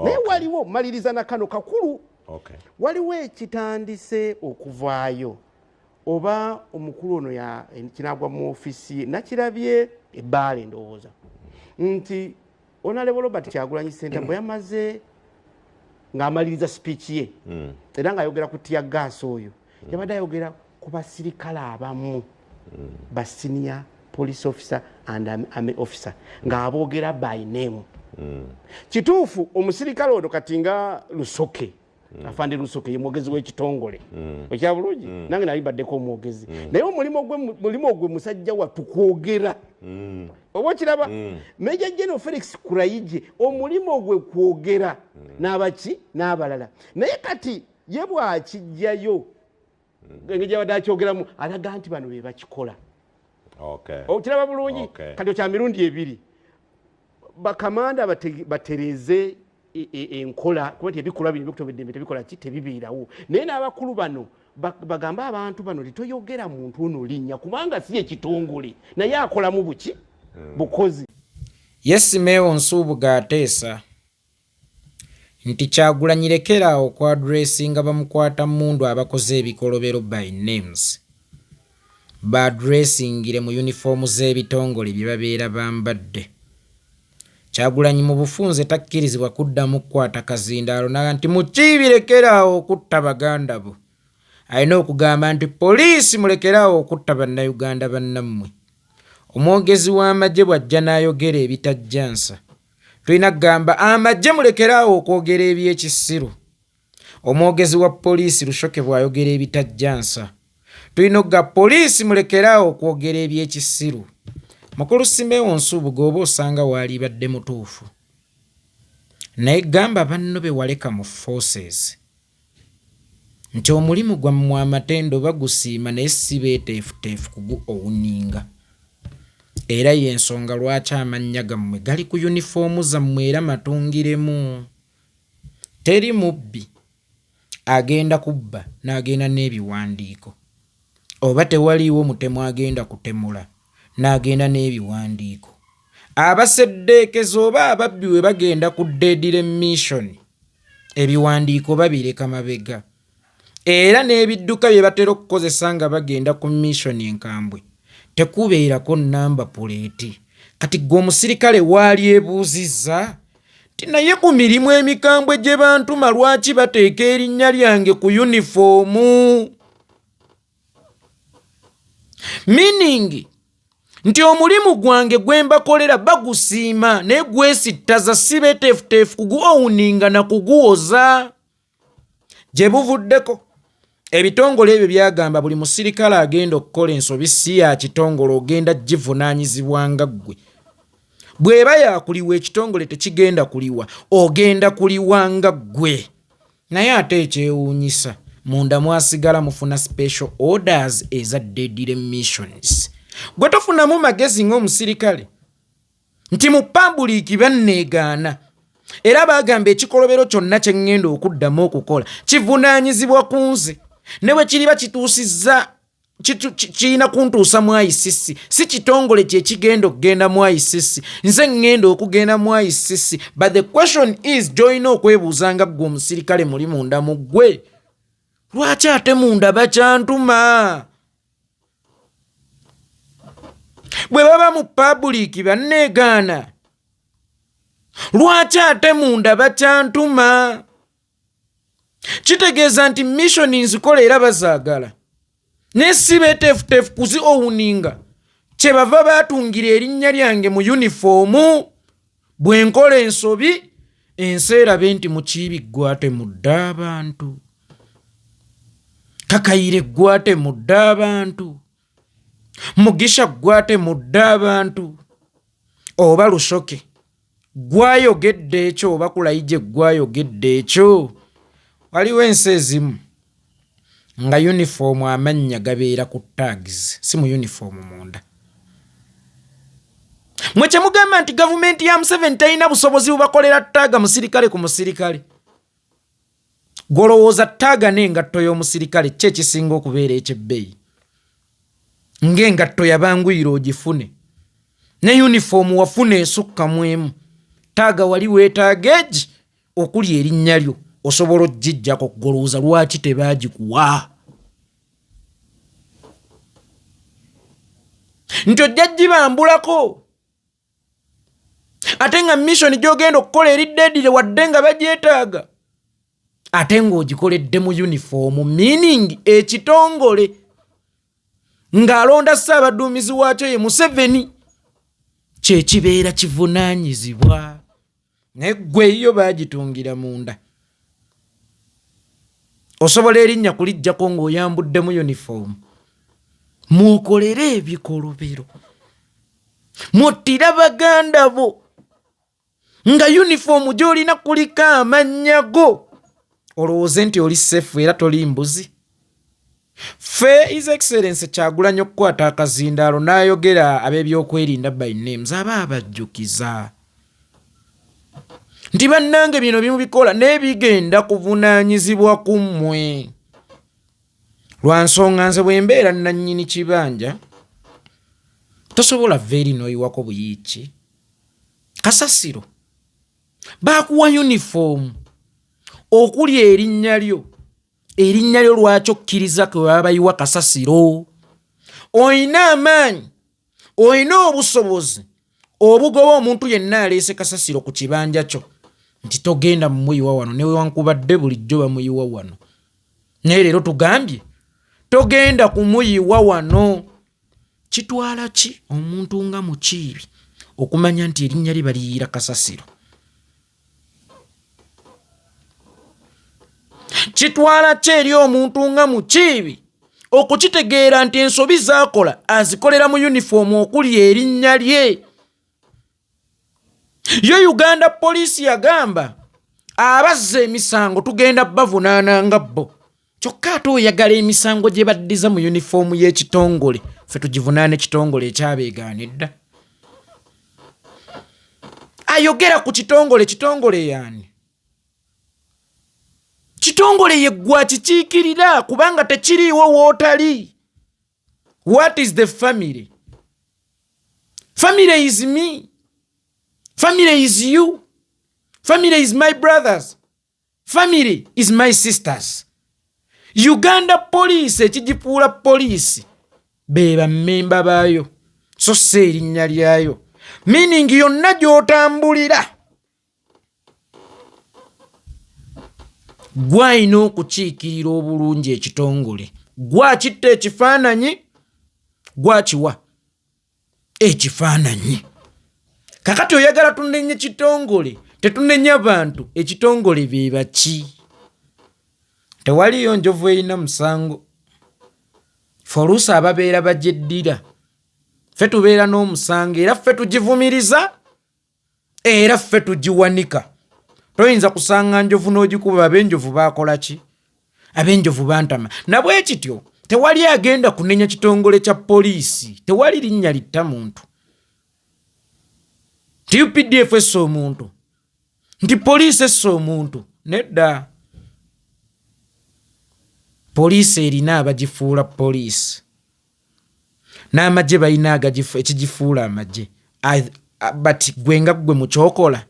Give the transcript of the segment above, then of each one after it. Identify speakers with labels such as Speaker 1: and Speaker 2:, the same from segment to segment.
Speaker 1: naye waliwo maliriza na kano kakulu waliwo ekitandise okuvaayo oba omukulu ono kinagwa mu ofisi nakirabye ebbaala endowooza nti onalebo robert kyagulanyi senta bwe yamaze ng'amaliriza sipiiki ye hmm. era ng'ayogera ku tiya gaasi oyo mm. yabadde ayogera ku basirikale abamu mm. basiniya police officer and army officer ng'aboogera by name mm. kituufu omusirikale ono kati nga lusoke mm. afande lusoke ye mwogezi w'ekitongole mm. okya bulungi mm. nange nali mbaddeko omwogezi mm. naye omulimu gwe mulimu ogwe musajja wattu kwogera mm. oba okiraba mm. meja general felix kurayije omulimu ogwe kwogera mm. n'abaki n'abalala naye kati ye bwakijjayo hmm. engeri gyabadde akyogeramu alaga nti bano be bakikola okiraba bulungi kati okya mirundi ebiri bakamanda batereze e, e, enkola kuba ti ebikolwa bino bikutoba eddembe tebikola ki tebibeerawo naye n'abakulu bano bagambe abantu bano titoyogera muntu ono linnya kubanga si ekitongole naye akolamu buki hmm. bukozi
Speaker 2: yesimewo nsuubuga ateesa Nti Kyagulanyi lekera awo oku addressinga bamukwata mmundu abakoze ebikolobero by names. Ba addressingire mu uniform z'ebitongole bye babeera bambadde. Kyagulanyi mu bufunze takkirizibwa kuddamu kukwata kazindaalo nagamba nti Mukiibi lekera awo okutta baganda bo. Alina okugamba nti Poliisi mulekere awo okutta Bannayuganda bannammwe. Omwogezi w'amagye bw'ajja n'ayogera ebitajja nsa, tulina kugamba amagye mulekeraawo okwogera ebyekisiru omwogezi wa poliisi lushoke bwayogera ebitajjansa tulina okuga poliisi mulekeraawo okwogera ebyekisiru mukulu simewo nsuubuga oba osanga waalibadde mutuufu naye gamba banno bewaleka mu forces nti omulimu gwammwe amatendo bagusiima naye si beeteefuteefu kugu owuninga era y'ensonga lwaki amannya gammwe gali ku yunifoomu zammwe era matungiremu. Teri mubbi agenda kubba n'agenda n'ebiwandiiko oba tewaliiwo mutemu agenda kutemula n'agenda n'ebiwandiiko. Abaseddeekezi oba ababbi bwe bagenda ku deadly mission, ebiwandiiko babireka mabega era n'ebidduka bye batera okukozesa nga bagenda ku missioni enkambwe tekubeerako nnamba puleeti kati gwe omusirikale waali ebuuzizza nti naye ku mirimu emikambwe gye bantuma lwaki bateeka erinnya lyange ku yunifoomu miningi nti omulimu gwange gwe mbakolera bagusiima naye gwesittaza si beteefuteefu kugwowuninga na kuguwoza gye buvuddeko ebitongole ebyo byagamba buli musirikale agenda okukola ensobi si ya kitongole ogenda givunaanyizibwa nga ggwe bw'eba yakuliwa ekitongole tekigenda kuliwa ogenda kuliwa nga ggwe Naye ate ekyewunyisa munda mwasigala mufuna special orders eza deadly missions. Gwe tofunamu magezi ng'omusirikale nti mu pabuliiki banneegaana era baagamba ekikolobero kyonna kye ŋŋenda okuddamu okukola kivunaanyizibwa ku nze ne bwe kiriba kituusizza kirina kuntuusa mu icc si kitongole kyekigenda okugenda mu icc nze ŋŋenda okugenda mu icc but the question is gyolina okwebuuza nga ggwe omusirikale muli munda mu ggwe lwaki ate munda bakyantuma bwe baba mu pabuliiki banneegaana lwaki ate munda bakyantuma kitegeeza nti missioni nzikola era bazaagala naye si beteefuteefu kuzi owuninga kyebava baatungira erinnya lyange mu yunifoomu bwe nkola ensobi ensi erabe nti mukiibi ggwate mudde abantu kakayire ggwate mudde abantu mugisha ggwate mudde abantu oba lusoke gwayogedde ekyo oba kulayije gwayogedde ekyo waliwo ensi ezimu nga yunifoomu amannya gabeera ku tags si mu yunifoomu munda mwe kyemugamba nti gavumenti ya museveni talina busobozi bubakolera taaga musirikale ku musirikale gwolowooza taaga n'engatto y'omusirikale kki ekisinga okubeera ekyebbeeyi ng'engatto yabanguyira ogifune ne yunifoomu wafuna esukka mu emu taaga wali weetaaga egi okuli erinnya lyo osobola okugijjako kugolowooza lwaki tebaagikuwa nti ojja gibambulako ate nga misoni gyogenda okukola eri dedire wadde nga bagyetaaga ate ng'ogikoledde mu yunifoomu meaning ekitongole ng'alonda ssaabaduumizi waakyo ye museveni kyekibeera kivunaanyizibwa naye gwe eyiyo bagitungira munda osobola erinnya kulijjako ng'oyambuddemu yunifoomu mwokolere ebikolobero mwottira baganda bo nga yunifoomu gy'olina kuliko amannya go olowooze nti oli seefu era toli mbuzi Ffe His Excellency Kyagulanyi okukwata akazindaalo n'ayogera ab'ebyokwerinda by names aba abajjukiza nti bannange bino bimubikola n'ebigenda kuvunaanyizibwa ku mmwe lwa nsonga nze bwe mbeera nnannyini kibanja tosobola vva eri n'oyiwako buyiiki kasasiro baakuwa yunifoomu okuli erinnya lyo erinnya lyo lwaki okkiriza kwe baba bayiwa kasasiro olina amaanyi olina obusobozi obugoba omuntu yenna aleese kasasiro ku kibanja kyo nti togenda mumuyiwa wano newankubadde bulijjo bamuyiwa wano naye leero tugambye togenda kumuyiwa wano Kitwala ki omuntu nga Mukiibi okumanya nti erinnya lye baliyiira kasasiro? Kitwala ki eri omuntu nga Mukiibi okukitegeera nti ensobi z'akola azikolera mu yunifoomu okuli erinnya lye? yo uganda poliisi yagamba abazza emisango tugenda bavunaana nga bo kyokka ate oyagala emisango gye baddiza mu yunifoomu y'ekitongole fe tugivunaana ekitongole ekyabeegaanidda ayogera ku kitongole kitongole yaani kitongole yeggwa kikiikirira kubanga tekiriiwo wootali what is the family family is me family is you family is my brothers family is my sisters uganda poliisi ekigifuula poliisi be bammemba baayo so si erinnya lyayo meaning yonna gy'otambulira gwe alina okukiikirira obulungi ekitongole gwe akitta ekifaananyi gwe akiwa ekifaananyi kakati oyagala tunenye kitongole tetunenya bantu ekitongole bebaki tewaliyo njovu erina musango fe oluusi ababeera bagyeddira fe tubeera n'omusango era fe tugivumiriza era ffe tugiwanika toyinza kusanga njovu n'ogikuba ab'enjovu baakola ki ab'enjovu bantama nabwe kityo tewali agenda kunenya kitongole kya poliisi tewali linnya litta muntu nti updf essa omuntu nti poliisi essa omuntu nedda poliisi erina abagifuula poliisi n'amagye balina ekigifuula amagye but gwe nga gwe mukyokola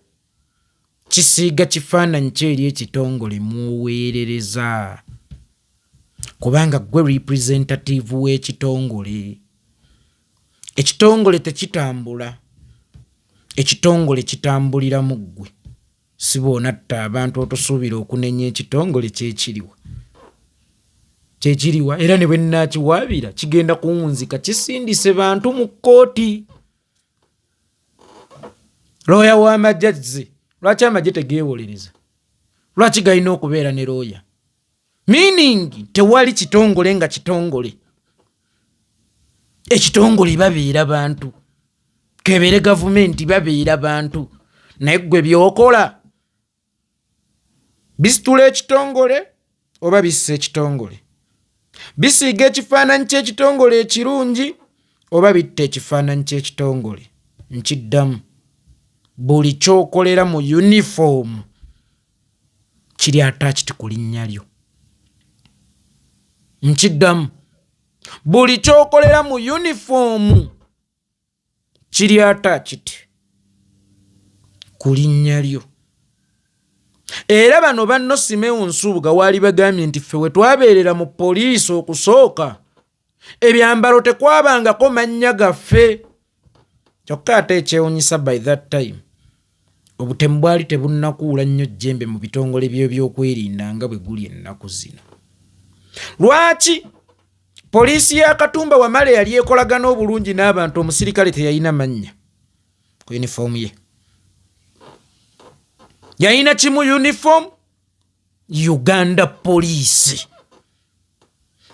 Speaker 2: kisiiga kifaananyi kyo eri ekitongole mwoweerereza kubanga gwe representative w'ekitongole ekitongole tekitambula ekitongole kitambulira mu ggwe Sibwonatta abantu otosuubira okunenya ekitongole kyekiriwa kyekiriwa era ne bwenakiwaabira kigenda kuwunzika kisindise bantu mu kkooti looya w'amagye azze lwaki amagye tegeewolereza lwaki galina okubeera ne looya meaning tewali kitongole nga kitongole ekitongole babeera bantu kebere gavumenti babeera bantu naye gwe byokola bisitula ekitongole oba bissa ekitongole bisiiga ekifaananyi ky'ekitongole ekirungi oba bitta ekifaananyi ky'ekitongole nkiddamu buli kyokolera mu yunifoomu kiri attached ku linnya lyo nkiddamu buli kyokolera mu yunifoomu kiri attached ku linnya lyo era bano banno simewo nsubuga waali bagambye nti ffe wetwabeerera mu poliisi okusooka ebyambalo tekwabangako mannya gaffe kyokka ate ekyewunyisa by that time obutemu bwali tebunnakuula nnyo jjembe mu bitongole byebyokwerinda nga bwe guli ennaku zino lwaki poliisi ya katumba wamala yali ekolagana obulungi n'abantu omusirikale teyalina mannya ku yunifoomu ye yalina kimu yunifoomu uganda poliisi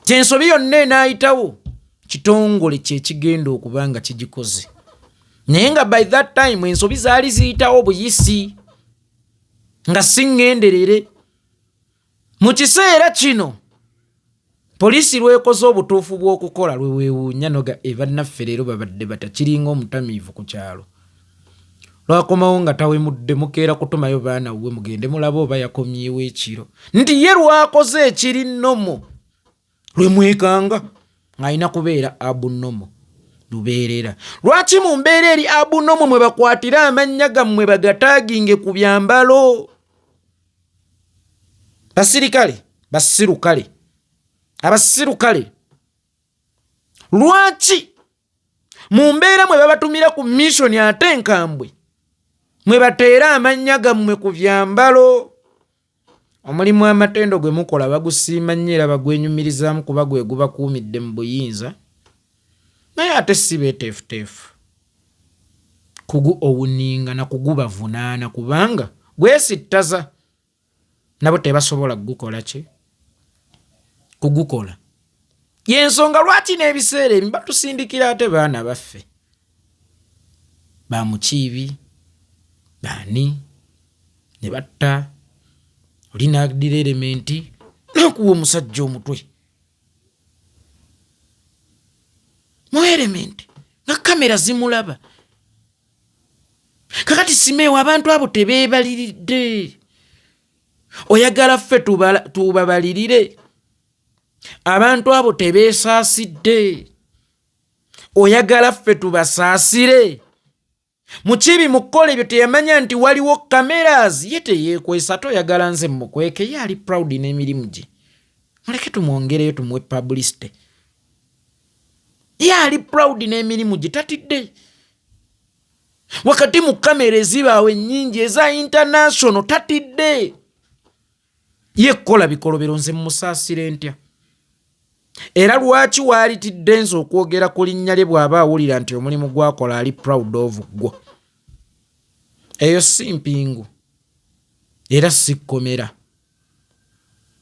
Speaker 2: kyensobi yonna enaayitawo kitongole kyekigenda okuba nga kigikoze naye nga by that time ensobi zaali ziyitawo buyisi nga siŋŋenderere mu kiseera kino Poliisi lw'ekoze obutuufu bw'okukola lwe weewuunya noga e bannaffe leero babadde bata kiringa omutamiivu ku kyalo lwakomawo nga tawemudde mukeera kutumayo baana wuwe mugende mulabe oba yakomyewo ekiro nti ye lwakoze ekiri nomo lwe mwekanga ng'alina kubeera abunomo lubeerera lwaki mu mbeera eri abunomo mwe bakwatira amannya gammwe bagataaginge ku byambalo basirikale basirukale abasirukale lwaki mu mbeera mwe babatumira ku misoni ate enkambwe mwe bateera amannya gammwe ku byambalo omulimu amatendo gwe mukola bagusiima nnyo era bagwenyumirizaamu kuba gwe gubakuumidde mu buyinza naye ate si beeteefuteefu kuguowninga na kugubavunaana kubanga gwesittaza nabo tebasobola kugukola ki kugukola yensonga lwaki n'ebiseera emi batusindikira ate baana baffe bamukiibi baani ne batta oli naagdira erementi nakuwa omusajja omutwe mu element nga kamera zimulaba kakati simeewo abantu abo tebeebaliridde oyagala ffe tubabalirire abantu abo tebeesaasidde oyagala ffe tubasaasire mukibi mukukola ebyo teyamanya nti waliwo cameras ye teyekwesa toyagala nze mukweke ye ali proud n'emirimu gye muleke tumwongereyo tumuwe publicity ye ali proud n'emirimu gye tatidde wakati mu kamera ezibaawo ennyingi eza international tatidde ye kukola bikolobero nze musaasire ntya era lwaki waalitidde nze okwogera ku linnya lye bw'aba awulira nti omulimu gwakola ali proud of gwo eyo si mpingu era si kkomera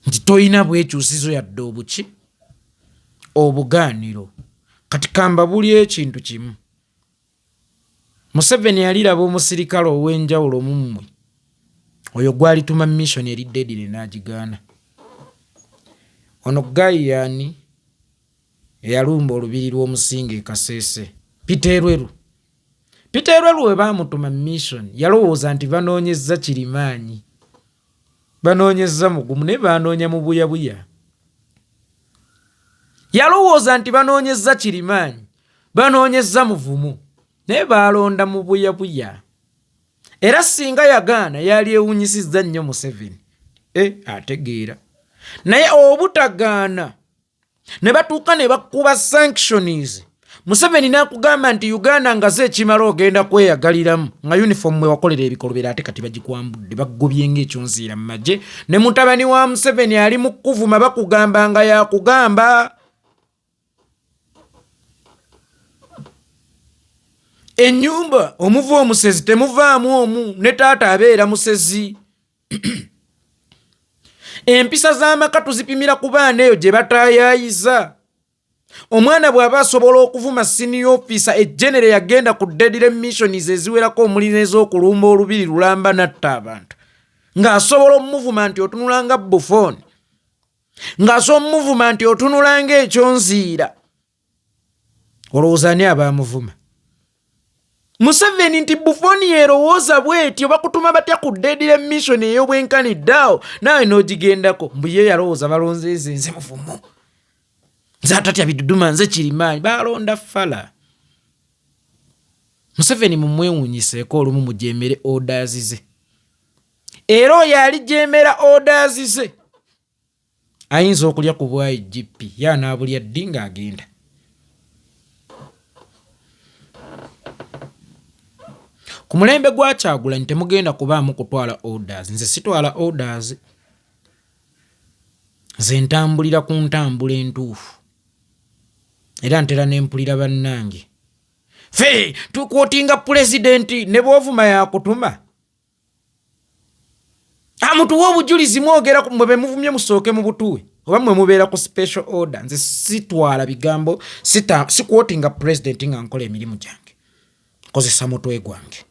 Speaker 2: nti tolina bwekyusizo yadde obuki obugaaniro kati kamba buli ekintu kimu Museveni yaliraba omusirikale ow'enjawulo mu mmwe oyo gwalituma mission eri Dedire n'agigaana. Ono ggayi yaani eyalumba olubiri lw'omusinga e Kasese? Peter Elweru. Peter Elweru we baamutuma mission yalowooza nti banoonyezza Kirimaanyi. Banoonyezza mugumu naye banoonya mubuyabuya. Yalowooza nti banoonyezza kirimaanyi, banoonyezza muvumu naye baalonda mubuyabuya. Era singa yagaana yali ewunyisizza nnyo Museveni. E, ategeera naye obutagaana ne batuuka ne bakuba sanctions museveni nakugamba nti uganda nga ze ekimala ogenda kweyagaliramu nga uniform mwe wakolera ebikolobera ate kati bagikwambudde bagobye ngaekyonziira mu magye ne mutabani wa museveni ali mu kukuvuma bakugamba nga yakugamba enyumba omuva omusezi temuvaamu omu ne taata abeera musezi empisa z'amaka tuzipimira ku baana eyo gye batayaayiza omwana bw'aba asobola okuvuma siniya ofiisa ejenere yagenda ku dedire missions eziwerako omuli n'ez'okulumba olubiri lulamba natta abantu ng'asobola omumuvuma nti otunula nga bufooni ng'asobola omumuvuma nti otunula ng'ekyonziira olowooza ani abaamuvuma museveni nti bufoni yerowooza bwetyo bakutuma batya ku dedire mission ey'obwenkani ddaawo naawe n'ogigendako mbu ye yalowooza balonze nze nze muvumu nze atatya biduduma nze kirimaanyi baalonda fala museveni mumwewunyiseeko olumu mujemere odazize era oyo alijemera odazize ayinza okulya ku bwa igp ye anaabulya ddi ng'agenda ku mulembe gwa kyagulanyi temugenda kubaamu kutwala orders nze sitwala orders nze ntambulira ku ntambula entuufu era ntera nempulira bannange fe tukwotinga pulezidenti ne bwovuma yakutuma amutuwa obujulizi mwogera mwe bemuvumye musooke mu butuwe oba mwe mubeera ku special order nze sitwala bigambo sikwotinga president nga nkola emirimu gyange nkozesa mutwe gwange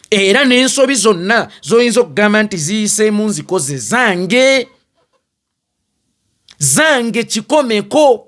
Speaker 2: era n'ensobi zonna zoyinza okugamba nti ziyiseemu nzikoze zange zange kikomeko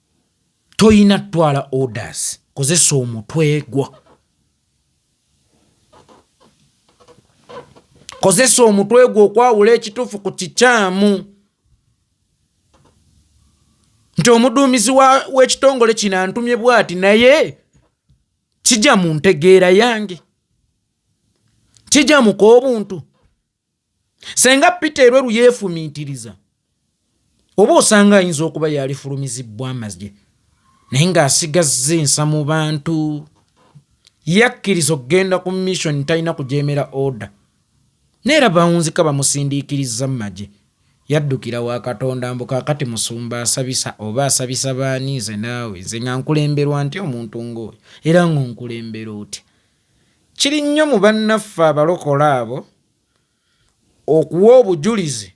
Speaker 2: toyina twala orders kozesa omutwe gwo kozesa omutwe gwo okwawula ekituufu ku kikyamu nti omuduumizi w'ekitongole kino antumye bwati naye kijja mu ntegeera yange kijja muka obuntu senga peter elweru yefumitiriza oba osanga ayinza okuba yalifulumizibbwa amazye naye ng'asigazza ensa mu bantu yakkiriza okugenda ku mission talina kujemera oda neera bawunzika bamusindiikiriza mu magye yaddukira wa katonda mbu kakati musumba asabisa oba asabisa baani nze naawe nze nga nkulemberwa nti omuntu ng'oyo era ng'onkulembera otya Kiri nnyo mu bannaffe Abalokole abo okuwa obujulizi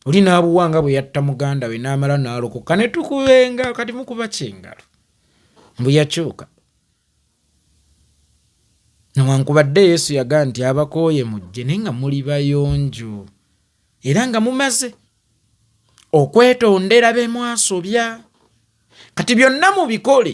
Speaker 2: oli n'abuwa nga bwe yatta muganda we n'amala n'alokoka ne tukubenga kati mukuba kyengalo mbu yakyuka newankubadde yesu yaga nti abakooye mujje naye nga muli bayonjo era nga mumaze okwetondera be mwasobya kati byonna mubikole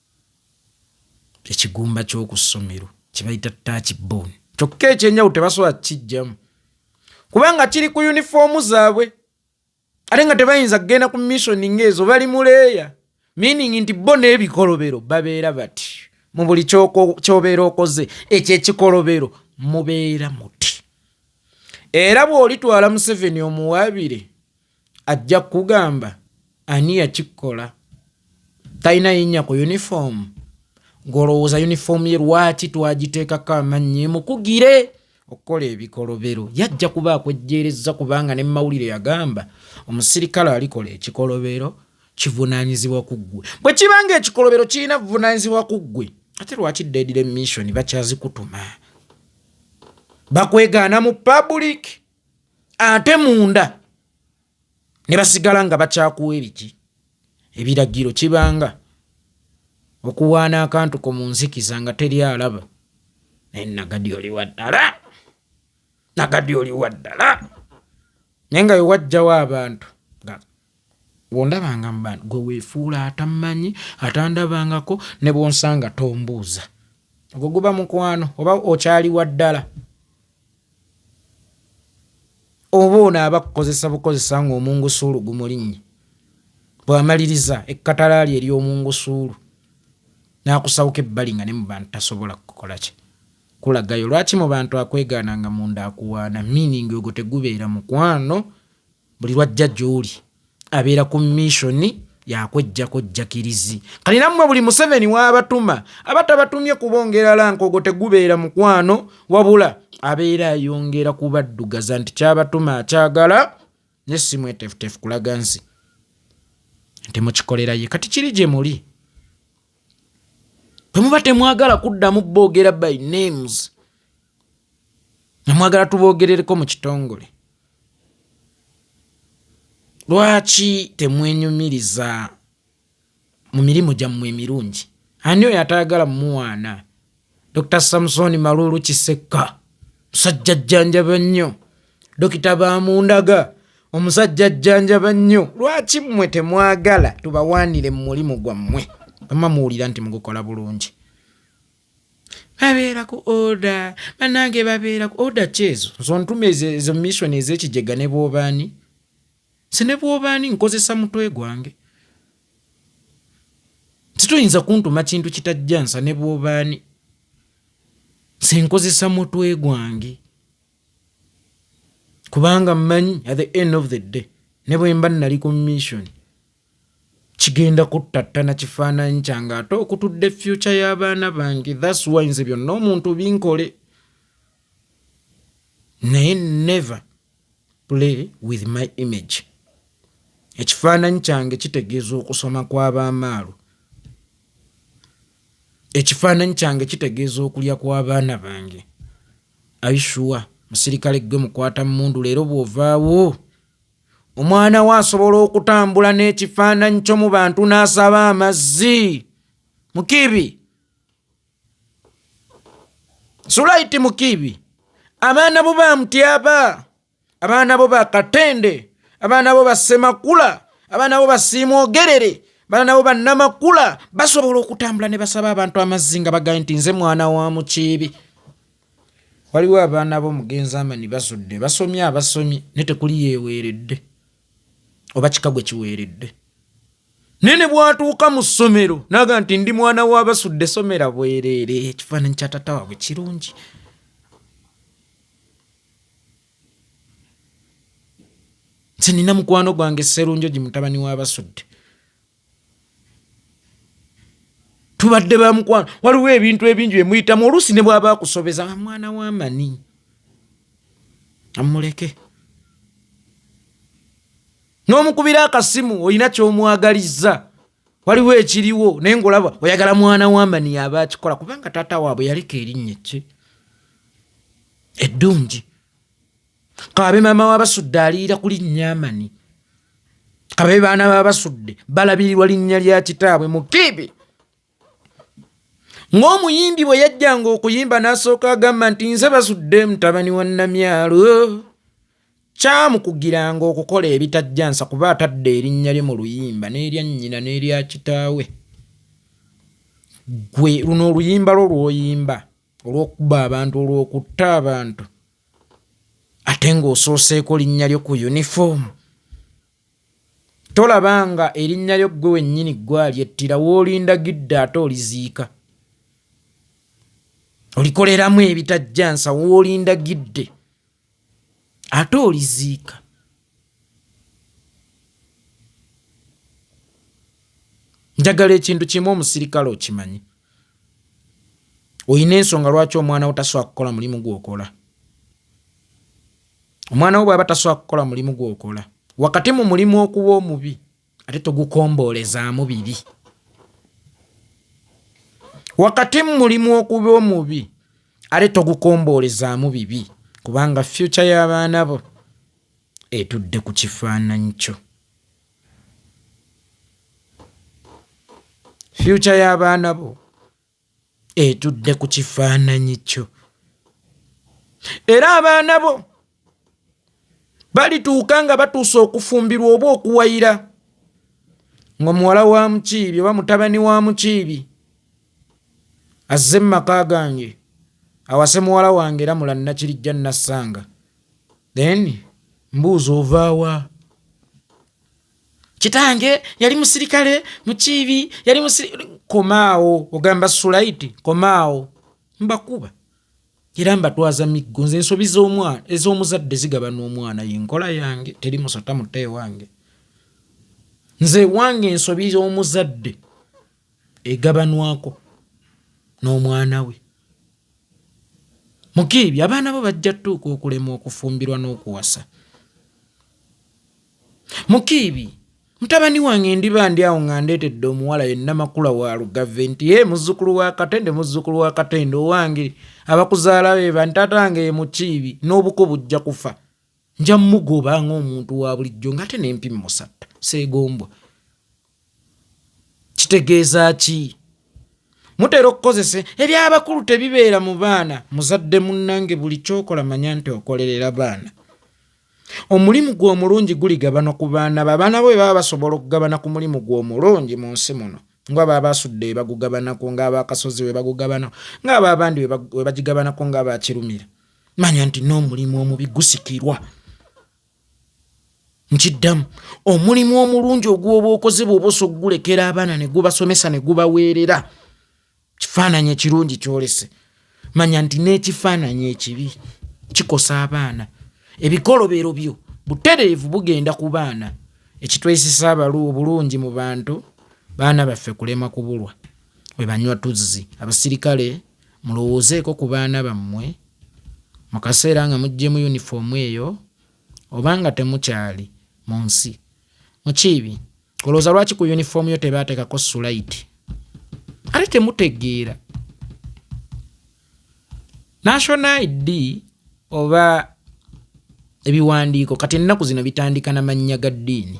Speaker 2: ekigumba ky'oku ssomero kye bayita taaki booni kyokka ekyenjawulo tebasobola kukijjamu kubanga kiri ku yunifoomu zaabwe ate nga tebayinza kugenda ku missoni ng'ezo bali mu leeya meaning nti bo n'ebikolobero babeera bati mu buli kyobeera okoze ekyo ekikolobero mubeera muti era bw'olitwala museveni omuwaabire ajja kugamba ani yakikola talina yinya ku uniform ngolowooza uniform ye lwaki twagiteekako amannyi mukugire okukola ebikolobero yajja kuba akwejjeerezza kubanga ne mawulire yagamba omusirikale alikola ekikolobero kivunanyizibwa ku ggwe bwe kibanga ekikolobero kirina vunanyizibwa ku ggwe ate lwaki deadire mission bakyazikutuma bakwegaana mu public ate munda ne basigala nga bakyakuwa ebiki ebiragiro kibanga okuwaana akantu ko mu nzikiza nga teri alaba naye nagadi oli waddala nagadi oli waddala naye nga wewajjawo abantu wondabanga mubantu gwe wefuula atammanyi atandabangako ne bwonsanga tombuuza ogwo guba mukwano oba okyali waddala oba ono aba kukozesa bukozesa ng'omungusuulu gumulinnye bw'amaliriza ekkatalaali ery'omungusuulu n'akusawuka ebbali nga ne mu bantu tasobola kukola ki kulagayo lwaki mu bantu akwegaana nga munda akuwaana meaning ogwo tegubeera mukwano buli lwajja gyoli abeera ku missoni yakwejjako jjakirizi kati nammwe buli museveni waabatuma aba tabatumye kubongera lankogo tegubeera mukwano wabula abeera ayongera kubaddugaza nti kyabatuma akyagala ne simwetefutefu kulaga nsi nti mukikolera ye kati kiri gye muli bwe muba temwagala kuddamu boogera by names namwagala tuboogerereko mu kitongole lwaki temwenyumiriza mu mirimu gyammwe emirungi ani oyo atayagala muwaana dr samusoni maluulu kisekka musajja jjanjaba nnyo dokita bamundaga omusajja jjanjaba nnyo lwaki mmwe temwagala tubawaanire mu mulimu gwammwe ama muwulira nti mugukola bulungi babeera ku oda banange babeera ku oda kyezo nzontuma ezo mission ezekijega ne bwobaani se ne bwobaani nkozesa mutwe gwange sitoyinza kuntuma kintu kitajja nsa ne bwobaani se nkozesa mutwe gwange kubanga mmanyi at the end of the day ne bwemba nali ku mission kigenda kuttattana kifaananyi kyange ate okutudde fyuca y'abaana bange thats why nze byonna omuntu binkole naye never play with my image ekifaananyi kyange kitegeeza okusoma kw'abaamaalu ekifaananyi kyange kitegeeza okulya kw'abaana bange aishuwa musirikale gwe mukwata mundu leero bw'ovaawo Omwana wo asobola okutambula n'ekifaananyi kyo mu bantu n'asaba amazzi mukiibi sulaiti mukiibi abaana bo ba mutyaba abaana bo ba katende abaana bo ba ssemakula abaana bo basiimwogerere abaana bo bannamakula basobola okutambula ne basaba abantu amazzi nga bagaye nti nze mwana wa mukiibi Waliwo abaana b'omugenzi Amani Basudde basomye abasomye naye tekuli yeeweeredde oba kika gwe kiweeredde naye ne bwatuuka mu ssomero naga nti ndi mwana wa Basudde somera bwereere ekifaananyi kya tata waabwe kirungi nti nina mukwano gwange Sserunjogi mutabani wa Basudde tubadde bamukwano waliwo ebintu ebingi byemuyitamu oluusi ne bwaba akusobeza nga mwana wamani amuleke n'omukubira akasimu olina kyomwagalizza waliwo ekiriwo naye ngaolaba oyagala mwana wamani yaba akikola kubanga taata waabwe yaleka erinnya kye eddungi kababe maama wabasudde aliira kuli nyamani kababe baana babasudde balabirirwa linnya lya kitaabwe mukiibi ng'omuyimbi bwe yajjanga okuyimba n'asooka agamba nti nze basudde mutabani wa namyalo kyamukugiranga okukola ebitajjansa kuba atadde erinnya lye mu luyimba n'erya nnyina n'erya kitaawe gwe luno oluyimba lwo lwoyimba olw'okukuba abantu olw'okutta abantu ate ng'osooseeko linnya lyo ku yunifoomu tolaba nga erinnya lyo ggwe wennyini ggwalyettira woolindagidde ate oliziika olikoleramu ebitajjansa woolindagidde ate oliziika njagala ekintu kimu omusirikale okimanyi olina ensonga lwaki omwana wo tasobola kukola mulimu gwokola omwana wo bwaba tasobola kukola mulimu gwokola wakati mu mulimu okuba omubi ate togukomboolezaamu bibi wakati mu mulimu okuba omubi ate togukomboolezaamu bibi kubanga fyuca y'abaana bo etudde ku kifaananyi kyo fyuca y'abaana bo etudde ku kifaananyi kyo era abaana bo balituuka nga batuuse okufumbirwa oba okuwayira ng'omuwala wa mukiibi oba mutabani wa mukiibi azze mu maka gange awase muwala wange era mulannakirijja nassanga then mbuuza ovaawa kitange yali musirikale mukiibi yali musirikale komaawo ogamba sulaiti komaawo mbakuba era mbatwaza miggo nze ensobi z'omwana ez'omuzadde zigaba n'omwana yenkola yange teri musota muta ewange nze ewange ensobi z'omuzadde egabanwako n'omwana we mukiibi abaana bo bajja tuuka okulemwa okufumbirwa n'okuwasa Mukiibi, mutabani wange ndiba ndi awo nga ndeetedde omuwala ye Namakula wa Lugave nti ye muzzukulu wa Katende muzzukulu wa Katende owange abakuzaala be bani taata wange ye Mukiibi n'obuko bujja kufa nja mugoba ng'omuntu wa bulijjo ng'ate n'empi mmusatta seegombwa kitegeeza ki mutera okukozesa ebyabakulu tebibeera mu baana muzadde munnange buli kyokola manya nti okolerera baana omulimu gwe omulungi guligabana ku baana be abaana bo bebaba basobola okugabana ku mulimu gwe omulungi mu nsi muno nga baba basudde webagugabanako ngaabakasozi webagugabanako ngaaba abandi webagigabanako ngaabakirumira manya nti n'omulimu omubi gusikirwa nkiddamu omulimu omulungi ogwoba okoze bwoba osa okugulekera abaana negubasomesa negubaweerera kifaananyi ekirungi kyolese manya nti n'ekifaananyi ekibi kikosa abaana ebikolobero byo butereevu bugenda ku baana ekitwesisa abalu obulungi mu bantu baana baffe kulema kubulwa webanywa tuzzi abasirikale Mulowoozeeko ku baana bammwe mu kaseera nga muggyemu yunifoomu eyo oba nga temukyali mu nsi. Mukiibi, olowooza lwaki ku yunifoomu yo tebaateekako sulayiti? Ate temutegeera. National ID oba ebiwandiiko kati ennaku zino bitandika na mannya ga ddiini.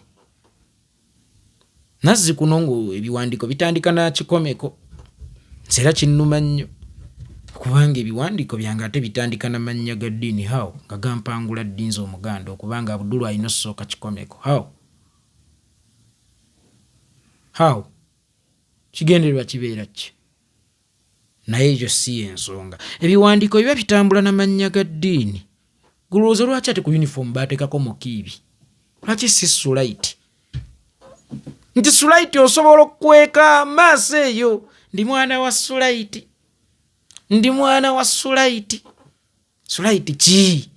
Speaker 2: nazzikuno ngaebiwandiiko bitandika nakikomeko nze era kinnuma nnyo kubanga ebiwandiiko byange ate bitandika na mannya ga ddiini how nga gampangula ddinza omuganda okubanga abudulu alina osooka kikomeko how how kigendererwa kibeera ki Naye ekyo si y'ensonga. Ebiwandiiko biba bitambula na mannya ga ddiini. Ggwe olowooza lwaki ate ku yunifoomu baateekako Mukiibi? Lwaki si Sulaiti? Nti Sulaiti osobola okukweka maaso eyo, ndi mwana wa Sulaiti, ndi mwana wa Sulaiti. Sulaiti ki?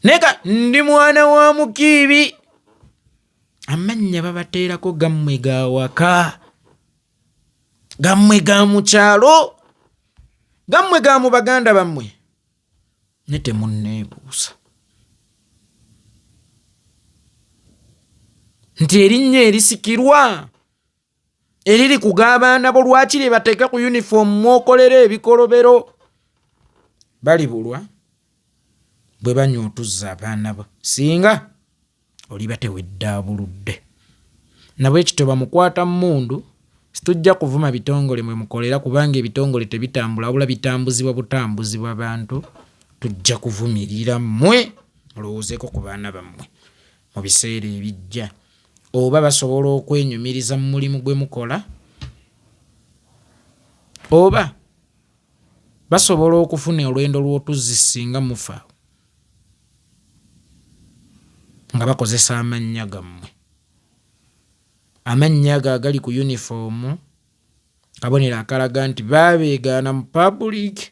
Speaker 2: naye ka ndi mwana wa mukiibi amannya babateerako gammwe ga waka gammwe ga mu kyalo gammwe ga mu baganda bammwe ne temunneebuusa nti erinnya erisikirwa eriri ku g'abaana bo lwaki lye bateeka ku yunifoomu mwokolera ebikolobero balibulwa bwe banywa otuzza abaana bo singa oliba teweddaabuludde nabwekityo bamukwata mmundu situjja kuvuma bitongole mwe mukolera kubanga ebitongole tebitambula wabula bitambuzibwa butambuzibwa bantu tujja kuvumirira mmwe mulowoozeeko ku baana bammwe mu biseera ebijja oba basobola okwenyumiriza mu mulimu gwe mukola oba basobola okufuna olwendo lw'otuzzi singa mufa nga bakozesa amannya gammwe amannya ago agali ku yunifoomu kabonero akalaga nti baabeegaana mu pabuliiki